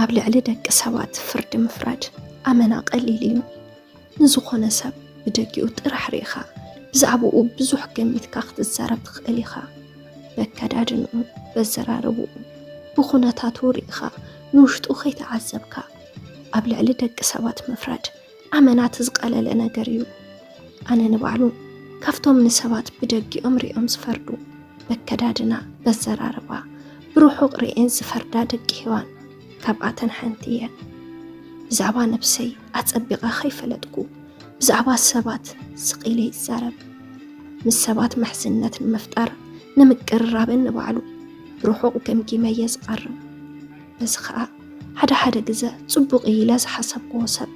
ኣብ ልዕሊ ደቂ ሰባት ፍርዲ ምፍራድ ኣመና ቀሊል እዩ። ንዝኾነ ሰብ ብደጊኡ ጥራሕ ርኢኻ ብዛዕባኡ ብዙሕ ገሚትካ ክትዛረብ ትኽእል ኢኻ። በከዳድንኡ፣ በዘራርብኡ፣ ብኹነታቱ ርኢኻ ንውሽጡ ከይተዓዘብካ ኣብ ልዕሊ ደቂ ሰባት ምፍራድ ኣመናት ዝቀለለ ነገር እዩ። ኣነ ንባዕሉ ካብቶም ንሰባት ብደጊኦም ሪኦም ዝፈርዱ በከዳድና በዘራርባ ብርሑቕ ርኤን ዝፈርዳ ደቂ ሔዋን ካብኣተን ሓንቲ እየ። ብዛዕባ ነብሰይ ኣጸቢቐ ከይፈለጥኩ ብዛዕባ ሰባት ስቒለ ይዛረብ። ምስ ሰባት ምሕዝነት ንምፍጣር ንምቅርራብን ንባዕሉ ብርሑቕ ገምጊመ እየ ዝቐርብ። በዚ ከዓ ሓደ ሓደ ግዘ ፅቡቕ እዩ ኢለ ዝሓሰብክዎ ሰብ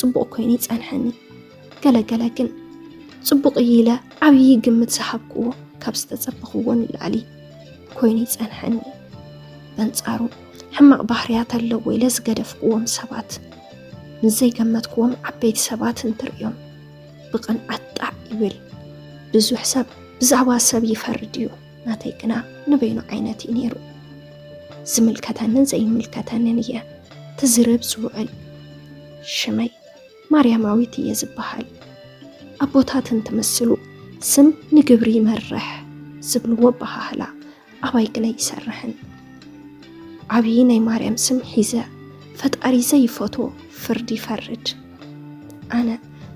ፅቡቕ ኮይኑ ይፀንሐኒ ገለገለ ግን ፅቡቕ እዩ ኢለ ዓብዪ ግምት ዝሃብክዎ ካብ ዝተፀበኽዎ ንላዕሊ ኮይኑ ይፀንሐኒ በንፃሩ ሕማቕ ባህርያት ኣለዎ ኢለ ዝገደፍክዎም ሰባት ምስ ዘይገመትክዎም ዓበይቲ ሰባት እንትርእዮም ብቕንዓት ጣዕ ይብል ብዙሕ ሰብ ብዛዕባ ሰብ ይፈርድ እዩ ናተይ ግና ንበይኑ ዓይነት እዩ ነይሩ። ዝምልከተንን ዘይምልከተንን እየ ትዝርብ ዝውዕል። ሽመይ ማርያማዊት እየ ዝበሃል። ኣቦታት እንትምስሉ ስም ንግብሪ ይመርሕ ዝብልዎ ኣበሃህላ ኣባይ ግና ይሰርሕን ዓብዪ ናይ ማርያም ስም ሒዘ ፈጣሪ ዘይፈትዎ ፍርዲ ይፈርድ። ኣነ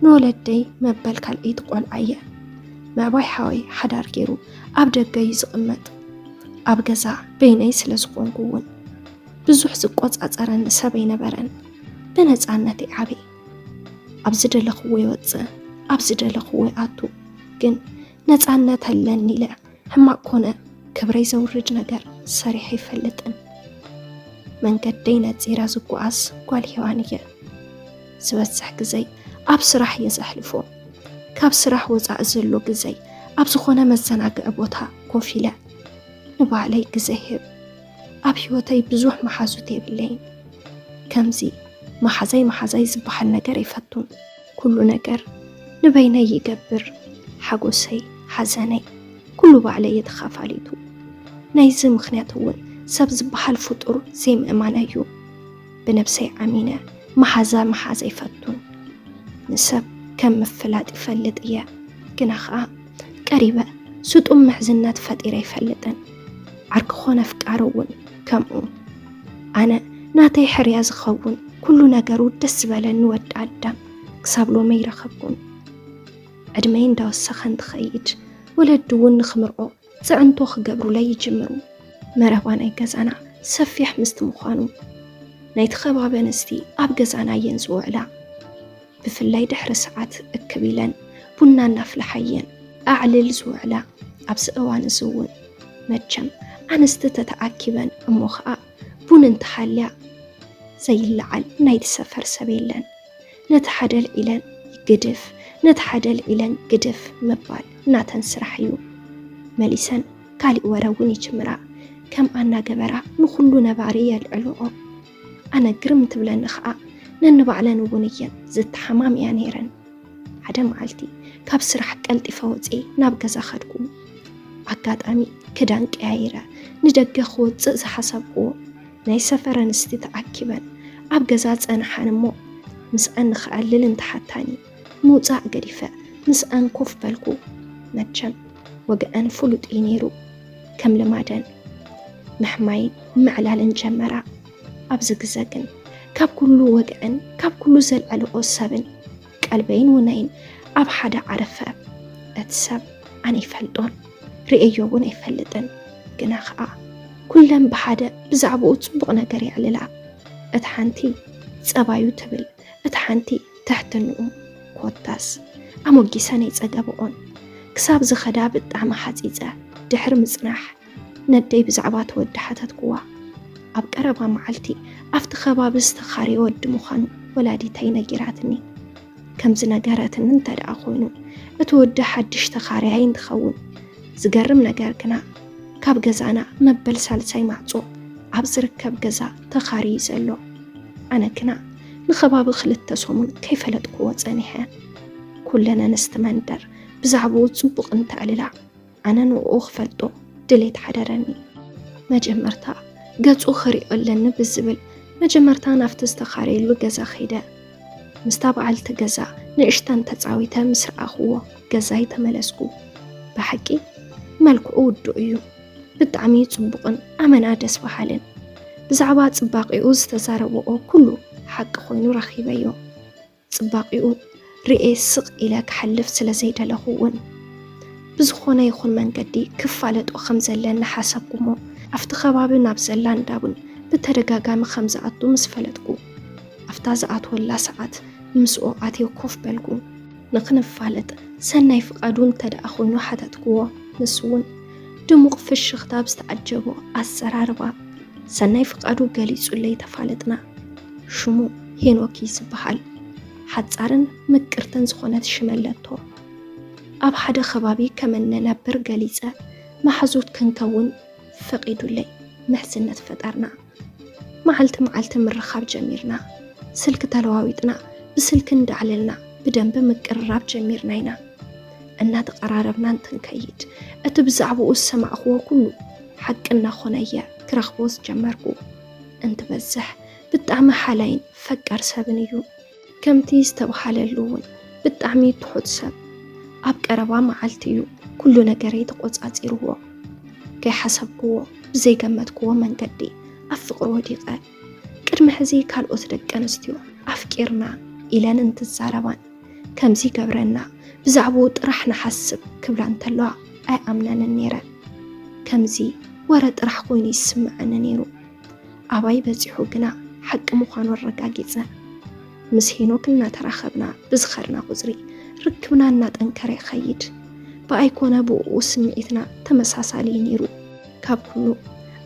ንወለደይ መበል ካልኣይቲ ቆልዓ እየ ምዕባይ ሓወይ ሓዳር ገይሩ ኣብ ደገ እዩ ዝቕመጥ ኣብ ገዛ በይነይ ስለ ዝኾንኩ እውን ብዙሕ ዝቆፃፀረኒ ሰብ ኣይነበረን ብነፃነት ይዓበ ኣብ ዝደለኽዎ ይወፅእ ኣብ ዝደለኽዎ ይኣቱ ግን ነፃነት ኣለኒ ኢለ ሕማቅ ኮነ ክብረይ ዘውርድ ነገር ሰሪሐ ኣይፈልጥን። መንገደይ ነፂረ ዝጓዓዝ ጓል ሄዋን እየ። ዝበዝሕ ግዘይ ኣብ ስራሕ እየ ዘሕልፎ። ካብ ስራሕ ወፃኢ ዘሎ ግዘይ ኣብ ዝኾነ መዘናግዒ ቦታ ኮፍ ኢለ ንባዕለይ ግዘ ህብ። ኣብ ህይወተይ ብዙሕ መሓዙት የብለይን። ከምዚ መሓዛይ መሓዛይ ዝበሃል ነገር ኣይፈቱን። ኩሉ ነገር ንበይነይ ይገብር ሓጎሰይ ሓዘነይ ኩሉ ባዕለይ እየ ተኻፋሊቱ። ናይዚ ምኽንያት እውን ሰብ ዝበሃል ፍጡር ዘይምእማነይ እዩ። ብነብሰይ ኣሚነ መሓዛ ምሓዝ ኣይፈቱን። ንሰብ ከም ምፍላጥ ይፈልጥ እየ ግና ኸኣ ቀሪበ ስጡም ምሕዝነት ፈጢረ ኣይፈልጥን። ዓርኪ ኮነ ኣፍቃሪ እውን ከምኡ። ኣነ ናተይ ሕርያ ዝኸውን ኩሉ ነገሩ ደስ ዝበለኒ ወዲ ኣዳም ክሳብ ሎሚ ኣይረኸብኩን። ዕድመይ እንዳወሰኸ እንትኸይድ ወለዲ እውን ንክምርዖ ፅዕንቶ ክገብሩለይ ይጅምሩ። መረባ ናይ ገዛና ሰፊሕ ምስቲ ምዃኑ ናይቲ ከባቢ ኣንስቲ ኣብ ገዛና እየን ዝውዕላ። ብፍላይ ድሕሪ ሰዓት እክብ ኢለን ቡና እናፍልሓ እየን ኣዕልል ዝውዕላ። ኣብዚ እዋን እዚ እውን መቸም ኣንስቲ ተተኣኪበን እሞ ከዓ ቡን እንተሃልያ ዘይለዓል ናይቲ ሰፈር ሰብ የለን። ነቲ ሓደ ኣልዒለን ግድፍ፣ ነቲ ሓደ ኣልዒለን ግድፍ ምባል ናተን ስራሕ እዩ። መሊሰን ካሊእ ወረ እውን ይጅምራ። ከምኣ እናገበራ ንኹሉ ነባሪ የልዕልኦ። ኣነ ግርም ትብለኒ ኸኣ ነንባዕለን እውን እየን ዝተሓማምያ ነይረን። ሓደ መዓልቲ ካብ ስራሕ ቀልጢፈ ወፅኤ ናብ ገዛ ኸድኩ። ኣጋጣሚ ክዳን ቀያይረ ንደገ ክወፅእ ዝሓሰብኩዎ ናይ ሰፈር ኣንስቲ ተኣኪበን ኣብ ገዛ ፀንሓን እሞ ምስኣን ንክዕልል እንተሓታኒ ምውጻእ ገዲፈ ምስኣን ኮፍ በልኩ። መቸም ወግዐን ፍሉጥ እዩ ነይሩ። ከም ልማደን ምሕማይን ምዕላልን ጀመራ። ኣብዚ ግዘ ግን ካብ ኩሉ ወግዐን ካብ ኩሉ ዘልዐልኦ ሰብን ቀልበይን ውነይን ኣብ ሓደ ዓረፈ። እቲ ሰብ ኣነ ይፈልጦን ርእዮ እውን ኣይፈልጥን። ግና ከዓ ኩለን ብሓደ ብዛዕባኡ ፅቡቕ ነገር የዕልላ። እታ ሓንቲ ፀባዩ ትብል፣ እታ ሓንቲ ትሕትንኡ ኮታስ ኣሞጊሰንይ ጸገብኦን ክሳብ ዝኸዳ ብጣዕሚ ሓጺጸ ድሕሪ ምጽናሕ ነደይ ብዛዕባ እቲ ወዲ ሓተትኩዋ። ኣብ ቀረባ መዓልቲ ኣብቲ ከባቢ ዝተኻረየ ወዲ ምዃኑ ወላዲተይ ነጊራትኒ። ከም ዝነገረትኒ እንተደኣ ኮይኑ እቲ ወዲ ሓድሽ ተኻረያይ እንትኸውን ዝገርም ነገር ግና ካብ ገዛና መበል ሳልሳይ ማዕፆ ኣብ ዝርከብ ገዛ ተኻርዩ ዘሎ ኣነ ግና ንኸባቢ ክልተ ሰሙን ከይፈለጥክዎ ፀኒሐ ኩለን ኣንስቲ መንደር ብዛዕባኡ ፅቡቕ እንተዕልላ ኣነ ንኡ ክፈልጦ ድሌት ሓደረኒ መጀመርታ ገፁ ክሪኦ ኣለኒ ብዝብል መጀመርታ ናብቲ ዝተኻረየሉ ገዛ ከይደ ምስታ በዓልቲ ገዛ ንእሽተን ተጻዊተ ምስ ረኣኽዎ ገዛይ ተመለስኩ። ብሓቂ መልክዑ ውዱእ እዩ። ብጣዕሚ ጽቡቕን ኣመና ደስ በሃልን ብዛዕባ ጽባቂኡ ዝተዛረበኦ ኩሉ ሓቂ ኮይኑ ረኺበዮ ጽባቂኡ ርኤ ስቕ ኢለ ክሓልፍ ስለ ዘይደለኹ እውን ብዝኾነ ይኹን መንገዲ ክፋለጦ ከም ዘለን ንሓሰብኩ እሞ ኣብቲ ከባቢ ናብ ዘላ እንዳቡን ብተደጋጋሚ ከም ዝኣቱ ምስ ፈለጥኩ ኣብታ ዝኣትወላ ሰዓት ምስኡ ኣትየ ኮፍ በልኩ። ንኽንፋለጥ ሰናይ ፍቓዱ እንተድኣ ኮይኑ ሓተትክዎ። ንሱ'ውን ድሙቕ ፍሽኽታ ኣብ ዝተዓጀቦ ኣዘራርባ ሰናይ ፍቓዱ ገሊጹለይ ተፋለጥና። ሽሙ ሄኖክ እዩ ዝበሃል። ሓጻርን ምቅርትን ዝኾነት ሽም ኣለቶ። ኣብ ሓደ ከባቢ ከም እንነብር ገሊጸ መሓዙት ክንከውን ፈቒዱለይ ምሕዝነት ፈጠርና። መዓልቲ መዓልቲ ምርኻብ ጀሚርና። ስልኪ ተለዋዊጥና፣ ብስልኪ እንዳዕለልና ብደንቢ ምቅርራብ ጀሚርና ኢና። እናተቐራረብና እንትንከይድ እቲ ብዛዕባኡ ዝሰማዕክዎ ኩሉ ሓቂ እናኾነ እየ ክረኽቦ ዝጀመርኩ። እንትበዝሕ ብጣዕሚ ሓላይን ፈቃር ሰብን እዩ። ከምቲ ዝተብሃለሉ እውን ብጣዕሚ ትሑት ሰብ ኣብ ቀረባ መዓልቲ እዩ ኩሉ ነገረይ ተቆፃፂርዎ። ከይሓሰብክዎ ብዘይገመትክዎ መንገዲ ኣብ ፍቅሪ ወዲቀ። ቅድሚ ሕዚ ካልኦት ደቂ ኣንስትዮ ኣፍቂርና ኢለን እንትዛረባን ከምዚ ይገብረና ብዛዕብኡ ጥራሕ ንሓስብ ክብላ እንተለዋ ኣይኣምነንን ነይረ። ከምዚ ወረ ጥራሕ ኮይኑ ይስመዐኒ ነይሩ። ኣባይ በጺሑ ግና ሓቂ ምዃኑ ኣረጋጊጸ። ምስ ሄኖክ እናተራኸብና ብዝኸድና ቁጽሪ ርክብና እናጠንከረ ይኸይድ። ብኣይ ኮነ ብእኡ ስምዒትና ተመሳሳሊ እዩ ነይሩ። ካብ ኩሉ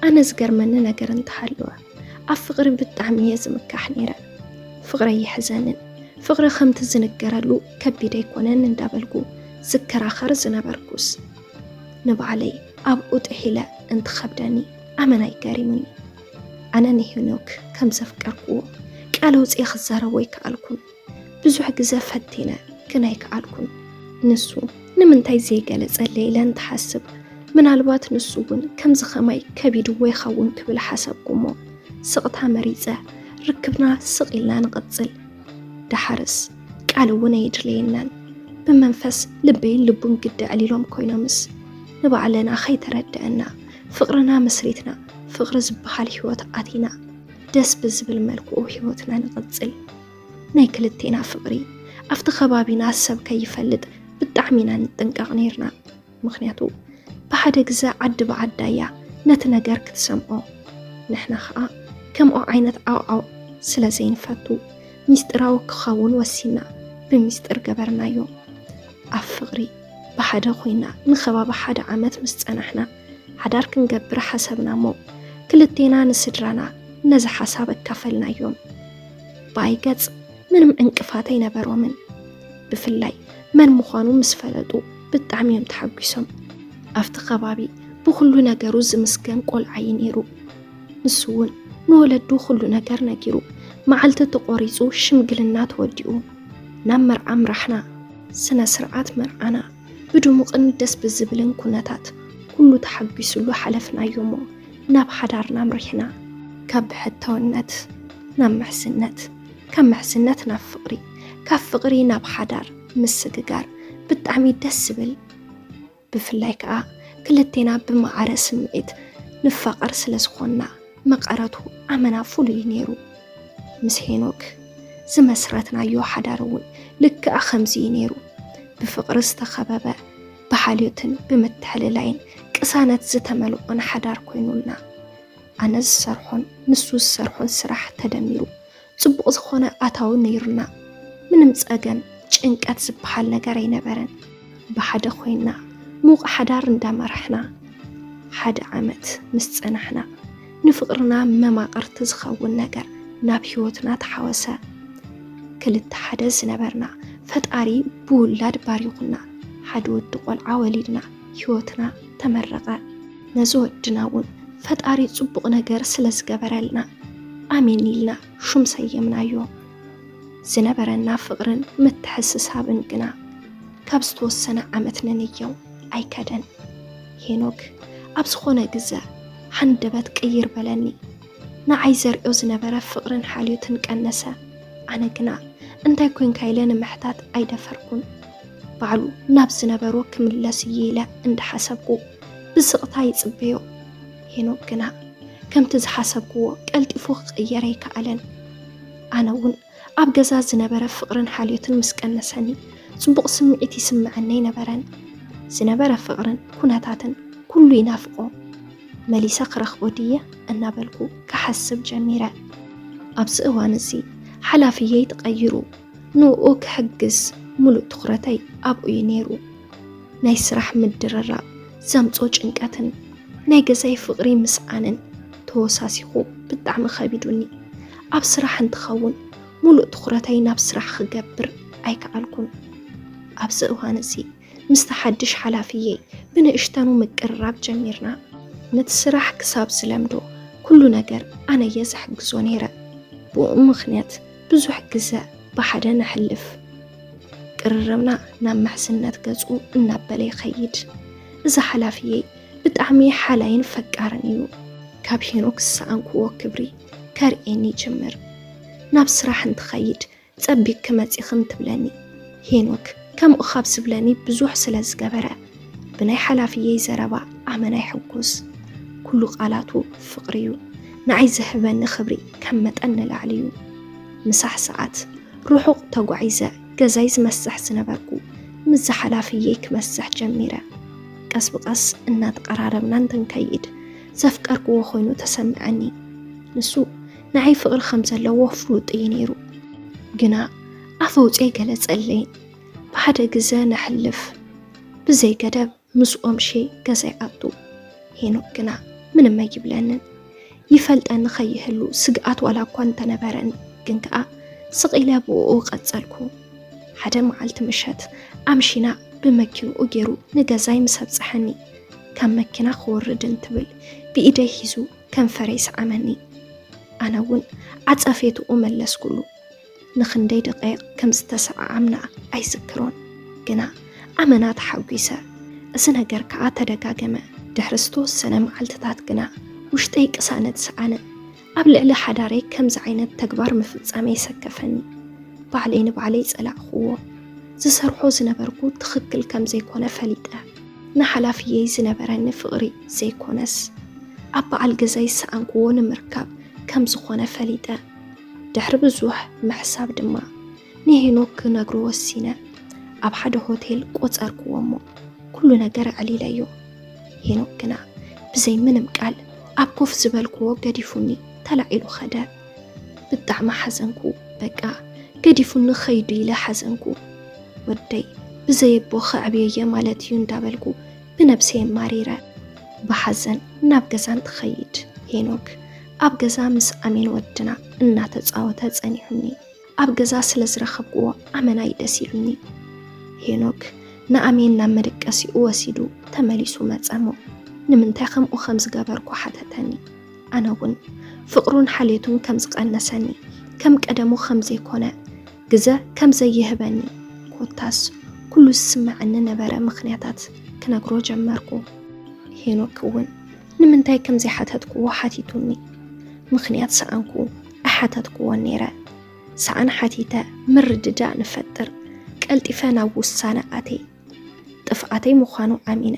ኣነ ዝገርመኒ ነገር እንተሃለወ ኣብ ፍቕሪ ብጣዕሚ እየ ዝምካሕ ነይረ። ፍቕረይ ይሕዘንን ፍቕሪ ከምቲ ዝንገረሉ ከቢድ ኣይኮነን እንዳበልኩ ዝከራኸር ዝነበርኩስ ንባዕለይ ኣብኡ ጥሒለ እንትኸብደኒ ኣመና እዩ ገሪሙኒ። ኣነ ንሄኖክ ከም ዘፍቀርኩዎ ቃል ኣውፅኤ ክዛረቦ ኣይከኣልኩን። ብዙሕ ግዘ ፈቲነ ግን ኣይከኣልኩን። ንሱ ንምንታይ ዘይገለፀለይ ኢለ እንትሓስብ ምናልባት ንሱ እውን ከምዚ ከማይ ከቢድዎ ይኸውን ክብል ሓሰብኩሞ ስቕታ መሪፀ ርክብና ስቕ ኢልና ንቕፅል። ደሓርስ ቃል እውን ኣየድለየናን። ብመንፈስ ልበይን ልቡን ግዲ ዕሊሎም ኮይኖምስ ንባዕለና ከይተረደአና ፍቅርና መስሪትና ፍቅሪ ዝበሃል ሂወት ኣቲና ደስ ብዝብል መልክዑ ሂወትና ንቅፅል ናይ ክልቴና ፍቅሪ ኣብቲ ከባቢና ሰብ ከይፈልጥ ብጣዕሚ ኢና ንጥንቀቅ ነይርና ምክንያቱ ብሓደ ግዘ ዓዲ ብዓዳ እያ ነቲ ነገር ክትሰምዖ ንሕና ከዓ ከምኦ ዓይነት ዓውዓው ስለ ዘይንፈቱ ሚስጢራዊ ክኸውን ወሲና ብሚስጢር ገበርናዮ ኣብ ፍቕሪ ብሓደ ኮይና ንከባቢ ሓደ ዓመት ምስ ጸናሕና ሓዳር ክንገብር ሓሰብና እሞ ክልቴና ንስድራና ነዚ ሓሳብ ኣካፈልናዮም። ብኣይ ገጽ ምንም ዕንቅፋት ኣይነበሮምን። ብፍላይ መን ምዃኑ ምስ ፈለጡ ብጣዕሚ እዮም ተሓጒሶም። ኣብቲ ከባቢ ብኹሉ ነገሩ ዝምስገን ቆልዓ እዩ ነይሩ። ንሱ እውን ንወለዱ ኩሉ ነገር ነጊሩ መዓልቲ ተቖሪፁ ሽምግልና ተወዲኡ ናብ መርዓ ኣምራሕና። ስነ ስርዓት መርዓና ብድሙቕን ደስ ብዝብልን ኩነታት ኩሉ ተሓጒስሉ ሓለፍናዮ እሞ ናብ ሓዳርና ኣምሪሕና። ካብ ብሕታውነት ናብ ምሕዝነት፣ ካብ ምሕዝነት ናብ ፍቕሪ፣ ካብ ፍቕሪ ናብ ሓዳር ምስግጋር ብጣዕሚ ደስ ዝብል ብፍላይ ከኣ ክልቴና ብማዕረ ስምዒት ንፋቐር ስለ ዝኾንና መቐረቱ ኣመና ፍሉይ እዩ ነይሩ። ምስ ሄኖክ ዝመስረትናዮ ሓዳር እውን ልክዕ ከምዚ እዩ ነይሩ። ብፍቕሪ ዝተኸበበ፣ ብሓልዮትን ብምትሕልላይን ቅሳነት ዝተመልኦን ሓዳር ኮይኑልና። ኣነ ዝሰርሖን ንሱ ዝሰርሖን ስራሕ ተደሚሩ ፅቡቕ ዝኾነ ኣታዊ ነይሩና። ምንም ፀገም ጭንቀት ዝበሃል ነገር ኣይነበረን። ብሓደ ኮይና ሙቕ ሓዳር እንዳመራሕና ሓደ ዓመት ምስ ፀናሕና ንፍቕርና መማቕርቲ ዝኸውን ነገር ናብ ህይወትና ተሓወሰ። ክልተ ሓደ ዝነበርና ፈጣሪ ብውላድ ባሪኹና ሓደ ወዲ ቆልዓ ወሊድና ህይወትና ተመረቐ ነዚ ወድና እውን ፈጣሪ ፅቡቕ ነገር ስለ ዝገበረልና ኣሜን ኢልና ሹም ሰየምናዮ። ዝነበረና ፍቕርን ምትሕስሳብን ግና ካብ ዝተወሰነ ዓመት ንንየው ኣይከደን። ሄኖክ ኣብ ዝኾነ ግዘ ሃንደበት ቅይር በለኒ። ንዓይ ዘርእዮ ዝነበረ ፍቕርን ሓልዮትን ቀነሰ። ኣነ ግና እንታይ ኮንካ ኢለ ንምሕታት ኣይደፈርኩን። ባዕሉ ናብ ዝነበሮ ክምለስ እየ ኢለ እንዳሓሰብኩ ብስቕታ ይጽበዮ። ሄኖክ ግና ከምቲ ዝሓሰብክዎ ቀልጢፉ ክቕየር ኣይከኣለን። ኣነ እውን ኣብ ገዛ ዝነበረ ፍቕርን ሓልዮትን ምስ ቀነሰኒ ጽቡቕ ስምዒት ይስምዐኒ ኣይነበረን። ዝነበረ ፍቕርን ኩነታትን ኩሉ ይናፍቆ። መሊሰ ክረኽቦ ድየ እናበልኩ ክሓስብ ጀሚረ። ኣብዚ እዋን እዚ ሓላፍየይ ተቐይሩ ንኡ ክሕግዝ ሙሉእ ትኹረተይ ኣብኡ እዩ ነይሩ። ናይ ስራሕ ምድርራብ ዘምጾ ጭንቀትን ናይ ገዛይ ፍቕሪ ምስኣንን ተወሳሲኹ ብጣዕሚ ከቢዱኒ። ኣብ ስራሕ እንትኸውን ሙሉእ ትኹረተይ ናብ ስራሕ ክገብር ኣይከኣልኩን። ኣብዚ እዋን እዚ ምስቲ ሓድሽ ሓላፍየይ ብንእሽተኑ ምቅርራብ ጀሚርና። ነቲ ስራሕ ክሳብ ዝለምዶ ኩሉ ነገር ኣነየ ዝሕግዞ ነይረ። ብእኡ ምኽንያት ብዙሕ ግዘ ብሓደ ነሕልፍ። ቅርርብና ናብ ምሕዝነት ገፁ እናበለ ይኸይድ። እዚ ሓላፍየይ ብጣዕሚ ሓላይን ፈቃርን እዩ። ካብ ሄኖክ ዝሰኣንኩዎ ክብሪ ከርእየኒ ይጅምር። ናብ ስራሕ እንትኸይድ ጸቢቅኪ መጺክም ትብለኒ ሄኖክ ከምኡ ካብ ዝብለኒ ብዙሕ ስለ ዝገበረ ብናይ ሓላፍየይ ዘረባ ኣመና ይሕጉስ ኩሉ ቃላቱ ፍቅሪ እዩ ንዓይ ዝህበኒ ክብሪ ከም መጠን ንላዕሊ እዩ ምሳሕ ሰዓት ርሑቅ ተጓዒዘ ገዛይ ዝመስሕ ዝነበርኩ ምስ ዝሓላፍየይ ክመስሕ ጀሚረ ቀስ ብቀስ እናተቀራረብና እንትንከይድ ዘፍቀርክዎ ኮይኑ ተሰምዐኒ ንሱ ንዓይ ፍቕሪ ከም ዘለዎ ፍሉጥ እዩ ነይሩ ግና ኣፍ ኣውፅኤ ገለፀለይ ብሓደ ግዘ ነሕልፍ ብዘይ ገደብ ምስኦም ሸ ገዛ ይኣቱ ሄኖክ ግና ምንም ኣይብለንን ይፈልጠኒ ከይህሉ ስግኣት ዋላ እኳ እንተነበረን ግን ከዓ ስቂለ ብኡ ቀፀልኩ ሓደ መዓልቲ ምሸት ኣምሽና ብመኪንኡ ገይሩ ንገዛይ ምስ ኣብፀሐኒ ካብ መኪና ክወርድ እንትብል ብኢደይ ሒዙ ከንፈረይ ሰዓመኒ። ኣነ እውን ዓጸፌትኡ መለስኩሉ። ንኽንደይ ደቐይቕ ከም ዝተሰዓዓምና ኣይዝክሮን፣ ግና ኣመና ተሓጒሰ። እዚ ነገር ከኣ ተደጋገመ። ድሕሪ ዝተወሰነ መዓልትታት ግና ውሽጠይ ቅሳነት ሰኣነ። ኣብ ልዕሊ ሓዳረይ ከምዚ ዓይነት ተግባር ምፍጻመይ ሰከፈኒ። ባዕለይ ንባዕለይ ጸላእኩዎ። ዝሰርሖ ዝነበርኩ ትኽክል ከም ዘይኮነ ፈሊጠ። ንሓላፍየይ ዝነበረኒ ፍቕሪ ዘይኰነስ፣ ኣብ በዓል ገዛይ ዝሰኣንክዎ ንምርካብ ከም ዝዀነ ፈሊጠ። ድሕሪ ብዙሕ ምሕሳብ ድማ፣ ንሄኖክ ክነግሮ ወሲነ። ኣብ ሓደ ሆቴል ቈጸርክዎ እሞ፣ ኵሉ ነገር ኣዕሊለዮ። ሄኖክ ግና፣ ብዘይ ምንም ቃል ኣብ ኮፍ ዝበልክዎ ገዲፉኒ ተላዒሉ ከደ። ብጣዕሚ ሓዘንኩ በቃ ገዲፉኒ ኸይዱ ኢለ ሓዘንኩ ወደይ ብዘየቦ ኸዕብየየ ማለት እዩ እንዳበልኩ ብነብሰየ ማሪረ ብሓዘን ናብ ገዛ እንትኸይድ ሄኖክ ኣብ ገዛ ምስ ኣሜን ወድና እናተፃወተ ፀኒሑኒ ኣብ ገዛ ስለ ዝረኸብኩዎ ኣመናይ ደስ ኢሉኒ። ሄኖክ ንኣሜን ናብ መደቀሲኡ ወሲዱ ተመሊሱ መጸሞ ንምንታይ ከምኡ ከም ዝገበርኩ ሓተተኒ። ኣነ እውን ፍቕሩን ሓልየቱን ከም ዝቐነሰኒ ከም ቀደሙ ከም ዘይኮነ ግዘ ከም ዘይህበኒ ኮታስ ኩሉ ዝስመዐኒ ነበረ ምክንያታት ክነግሮ ጀመርኩ። ሄኖክ እውን ንምንታይ ከም ዘይሓተትክዎ ሓቲቱኒ። ምኽንያት ሰኣንኩ፣ ኣይሓተትክዎን ነይረ። ሰኣን ሓቲተ ምርድዳእ ንፈጥር፣ ቀልጢፈ ናብ ውሳነ ኣትየ። ጥፍኣተይ ምዃኑ ኣሚነ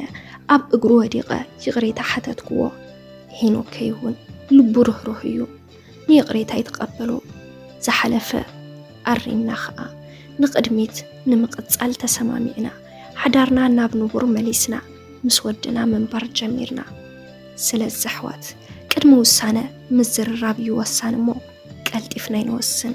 ኣብ እግሩ ወዲቐ ይቕሬታ ሓተትክዎ። ሄኖክ ከይሁን ልቡ ርህሩህ እዩ። ንይቕሬታ ይተቐበሉ ዝሓለፈ ኣሪምና ኸኣ ንቕድሚት ንምቕጻል ተሰማሚዕና ሓዳርና ናብ ንቡር መሊስና ምስ ወድና ምንባር ጀሚርና ስለዚ ኣሕዋት ቅድሚ ውሳነ ምዝርራብ እዩ ወሳኒ እሞ ቀልጢፍና ይንወስን